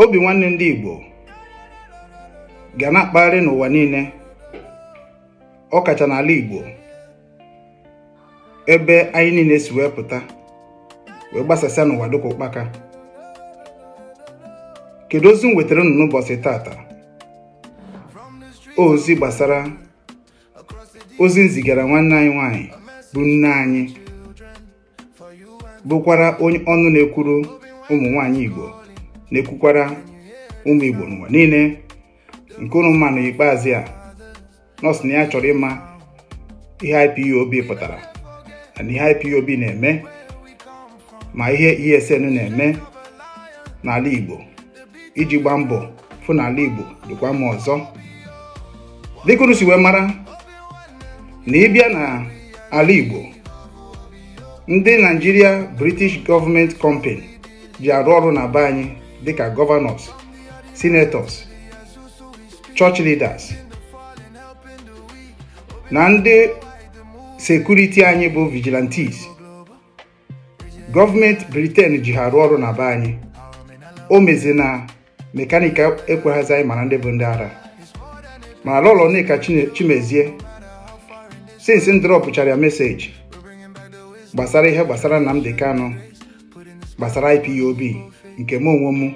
obi nwanne ndị Igbo ga na-akpagharị n'ụwa niile ọ kacha n'ala Igbo ebe anyị niile si wee pụta wee gbasasịa n'ụwa dịka ụkpaka kedu ozi m wetara unu n'ụbọchị tata ozi gbasara ozi m zigara nwanne anyị nwanyị bụ nne anyị bụkwara onye ọnụ na-ekwuru ụmụ nwanyị Igbo na-ekwukwara ụmụ Igbo n'ụwa niile nke unu ma na ikpeazụ a nọọ sị na ya chọrọ ịma ihe IPOB pụtara na ihe IPOB na-eme ma ihe ESN na-eme n'ala Igbo iji gbaa mbọ fụ na ala Igbo dịkwa mma ọzọ dịka unu si wee mara na ị bịa na ala Igbo ndị Nigeria British Government Company ji arụ ọrụ na be anyị dịka governors senators church leaders na ndị security anyị bụ vigilantes gọọmenti Britain ji ha arụ ọrụ na be anyị o mezi na mekanika ekweghịzi anyị mara ndị bụ ndị ara ma Lọlọ Nneka Chimezie since m dropụchara ya message gbasara ihe gbasara Nnamdi Kanu gbasara IPOB nke m onwe m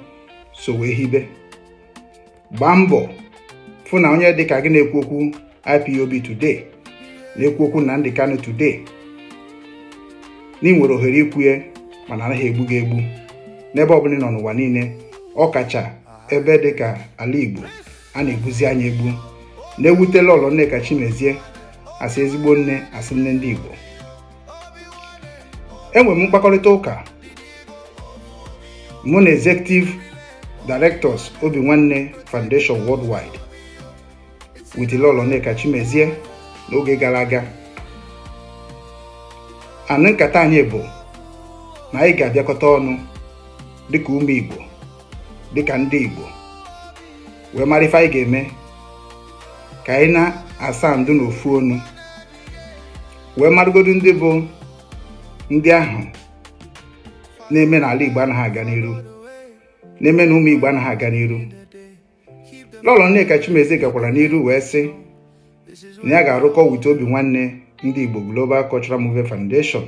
so wee hibe gbaa mbọ fụ na onye dịka gị na-ekwu okwu IPOB today na-ekwu okwu Nnamdi Kanu today na ị nwere ohere ikwu ya mana anaghị egbu gị egbu n'ebe ọbụla ị nọ n'ụwa niile ọ kacha ebe dị ka ala Igbo a na-egbuzi anyị egbu na-ewute Lọlọ Nneka Chimezie a sị ezigbo nne a sị nne ndị Igbo enwere m mkpakọrịta ụka mụ na executive directors obi nwanne foundation worldwide with Lọlọ Nneka Chimezie n'oge gara aga and nkata anyị bụ na anyị ga-abịakọta ọnụ dịka ụmụ Igbo dịka ndị Igbo wee mara ife anyị ga-eme ka anyị na-asa ndụ n'ofu ọnụ wee marụgodu ndị bụ ndị ahụ na-eme na ala Igbo anaghị aga n'iru na-eme na ụmụ Igbo anaghị aga n'iru Lọlọ Nneka Chimezie gakwara n'iru wee sị na ya ga-arụkọ with obi nwanne ndị Igbo Global Cultural Movement Foundation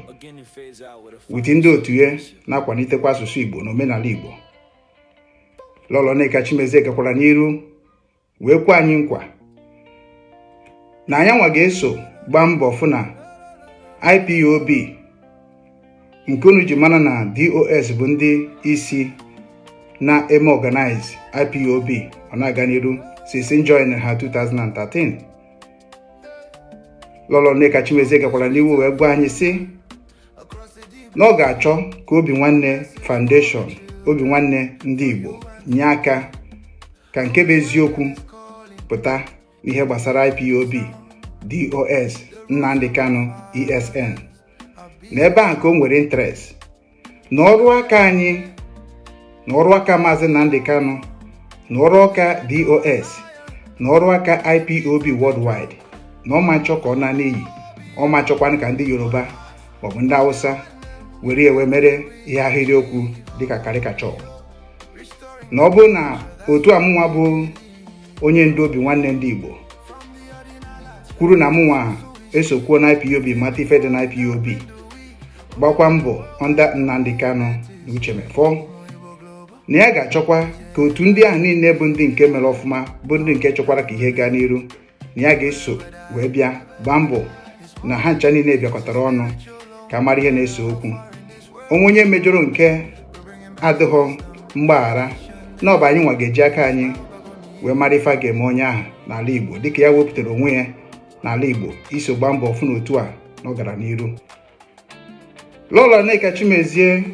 with ndị otu ya na-akwalitekwa asụsụ Igbo na omenala Igbo Lọlọ Nneka Chimezie gakwara n'iru wee kwe anyị nkwa na anyị nwa ga-eso gbaa mbọ fụ na IPOB nke unu ji mana na DOS bụ ndị isi na-eme organize IPOB ọ na-aga n'iru since m join ha 2013 Lọlọ Nneka Chimezie gakwara n'iru wee gwa anyị sị na ọ ga-achọ ka Obi Nwanne Foundation Obi Nwanne ndị Igbo nye aka ka nke bụ eziokwu pụta n'ihe gbasara IPOB DOS Nnamdi Kanu ESN na ebe a ka o nwere interest na ọrụ aka anyị na ọrụ aka maazị Nnamdi Kanu na ọrụ aka DOS na ọrụ aka IPOB worldwide na ọ ma nchọ ka ọ naa n'iyi ọ ma nchọkwanụ ka ndị Yoruba maọbụ ndị Hausa were ya wee mere ihe ahịrịokwu dịka caricature na ọ bụrụ na otu a mụnwa bụ onye ndu obi nwanne ndị Igbo kwuru na mụnwa esokwuo na IPOB mata ife dị na IPOB gbakwa mbọ under Nnamdi Kanu na Uche Mefor na ya ga-achọkwa ka otu ndị ahụ niile bụ ndị nke mere ọfụma bụ ndị nke chọkwara ka ihe gaa n'iru na ya ga-eso wee bịa gbaa mbọ na ha ncha niile bịakọtara ọnụ ka mara ihe na-ese okwu o nwee onye mejọrọ nke adịghọ mgbaghara na ọ bụ anyị nwa ga-eji aka anyị wee mara ife a ga-eme onye ahụ n'ala Igbo dịka ya wepụtara onwe ya n'ala Igbo iso gbaa mbọ fụ na otu a na ọ gara n'iru Lọlọ Nneka Chimezie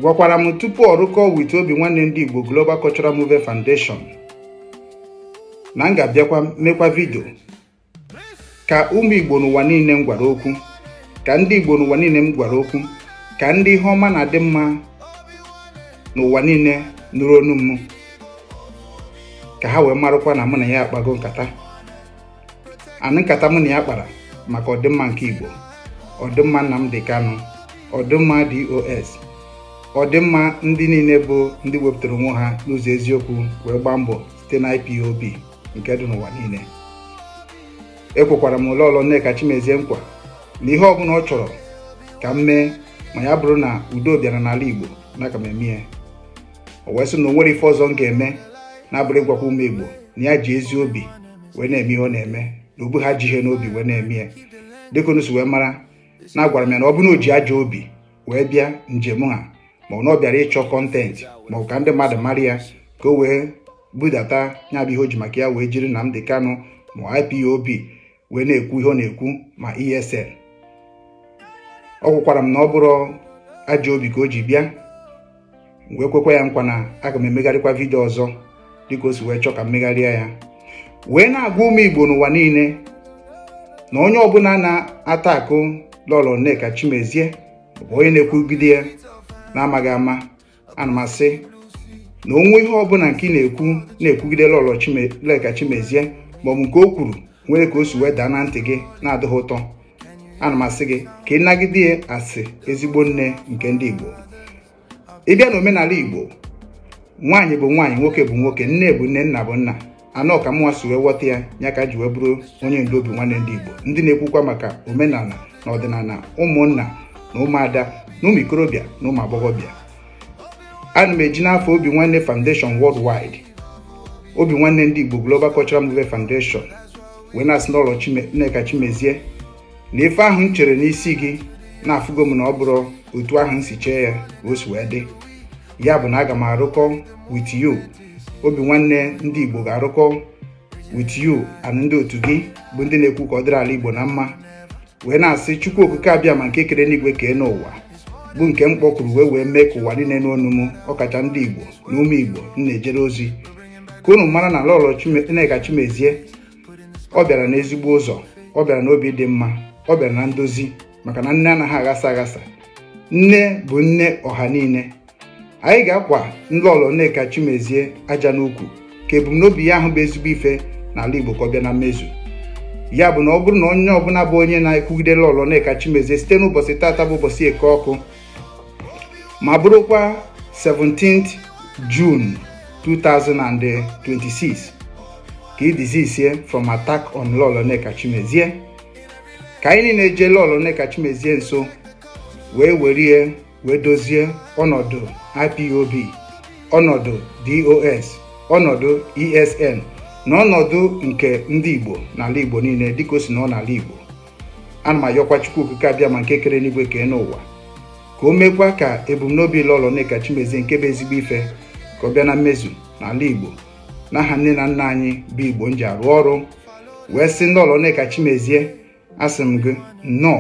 gwakwara m tupu ọ rụkọọ with obi nwanne ndị Igbo Global Cultural Movement Foundation na m ga-abịakwa mekwa vidio ka ụmụ Igbo n'ụwa niile m gwara okwu ka ndị Igbo n'ụwa niile m gwara okwu ka ndị ihe ọma na-adị mma n'ụwa niile nụrụ onu m ka ha wee marụkwa na mụ na ya akpago nkata anị nkata mụ na ya kpara maka ọdịmma nke Igbo ọdịmma Nnamdi Kanu ọdịmma DOS ọdịmma ndị niile bụ ndị wepụtara onwe ha n'ụzọ eziokwu wee gbaa mbọ site na IPOB nke dị n'ụwa niile ekwekwara m Lọlọ Nneka Chimezie nkwa na ihe ọbụla ọ chọrọ ka m mee ma ya bụrụ na udo bịara n'ala Igbo na aga m eme ya o wee sị na o nwere ife ọzọ m ga-eme na-abụrọ ịgwakwa ụmụ Igbo na ya ji ezi obi wee na-eme ihe ọ na-eme na o bughọ ajọ ihe n'obi wee na-eme ya dịka unu si wee mara na agwara m ya na ọ bụrụ na o ji ajọ obi wee bịa njem a ma ọ na ọ bịara ịchọ content ma ọ ka ndị mmadụ mara ya ka o wee budata ya bụ ihe o ji maka ya wee jiri Nnamdi Kanu ma IPOB wee na-ekwu ihe ọ na-ekwu ma ESN ọ gwakwara m na ọ bụrọ ajọ obi ka o ji bịa m wee kwekwa ya nkwa na aga m emegharịkwa vidio ọzọ dịka o si wee chọọ ka m megharịa ya wee na-agwa ụmụ Igbo n'ụwa niile na onye ọbụla na-attack lọlọ Nneka Chimezie bụ onye na-ekwugide ya na-amaghị ama ana m asị na o nwee ihe ọbụla nke ị na-ekwu na-ekwugide lọlọ Nneka Chimezie maọbụ nke o kwuru nwere ka o si wee daa na ntị gị na-adịghị ụtọ ana m asị gị ka ị nagide ya as ezigbo nne nke ndị Igbo ị bịa na omenala Igbo nwaanyị bụ nwaanyị nwoke bụ nwoke nne bụ nne nna bụ nna anọ ka mụnwa si wee ghọta ya ya ka m ji wee bụrụ onye ndu obi nwanne ndị Igbo ndị na-ekwukwa maka omenala na ọdịnala ụmụnna na ụmụada na ụmụ ikorobịa na ụmụ agbọghọbịa ana m eji n'afa obi nwanne foundation worldwide obi nwanne ndị Igbo Global Cultural Movement Foundation wee na-asị lọlọ Nneka Chimezie na ife ahụ m chere n'isi gị na afụgo m na ọ bụrọ otu ahụ m si chee ya o si wee dị ya bụ na aga m arụkọ with you obi nwanne ndị Igbo ga-arụkọ with you and ndị otu gị bụ ndị na-ekwu ka ọ dịrị ala Igbo na mma wee na-asị Chukwu Okike Abịama nke kere enuigwe kee enuụwa bụ nke m kpọkuru wee wee mee ka ụwa niile nụ onu m ọkacha ndị Igbo na ụmụ Igbo m na-ejere ozi ka unu mara na lọlọ Nneka Chimezie ọ bịara n'ezigbo ụzọ ọ bịara n'obi dị mma ọ bịara na ndozi maka na nne anaghị aghasa aghasa nne bụ nne ọha niile anyị ga-akwa lọlọ Nneka Chimezie aja n'ukwu ka ebumnobi ya ahụ bụ ezigbo ife n'ala Igbo ka ọ bịa na mmezu ya bụ na ọ bụrụ na onye ọbụla bụ onye na-ekwugide lọlọ Nneka Chimezie site n'ụbọchị tata bụ ụbọchị eke ọkụ ma bụrụkwa 17th June 2026 ka ị desistie from attack on lọlọ Nneka Chimezie ka anyị niile jee lọlọ Nneka Chimezie nso wee werie wee dozie ọnọdụ IPOB ọnọdụ DOS ọnọdụ ESN na ọnọdụ nke ndị Igbo n'ala Igbo niile dịka o si nọ n'ala Igbo ana m ayọkwa Chukwu Okike Abịama nke kere enuigwe kee enuụwa ka o meekwa ka ebumnobi Lọlọ Nneka Chimezie nke bụ ezigbo ife ka ọ bịa na mmezu n'ala Igbo n'aha nne na nna anyị bụ Igbo m ji arụ ọrụ wee sị Lọlọ Nneka Chimezie asị m gị nnọọ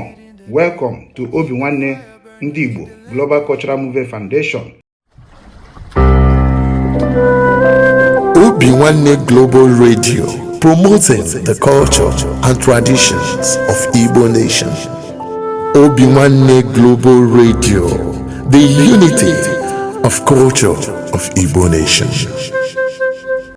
welcome to obi nwanne ndị Igbo Global Cultural Movement Foundation obi nwanne Global Radio promoting the culture and traditions of Igbo nation obi nwanne Global Radio the unity of culture of Igbo nation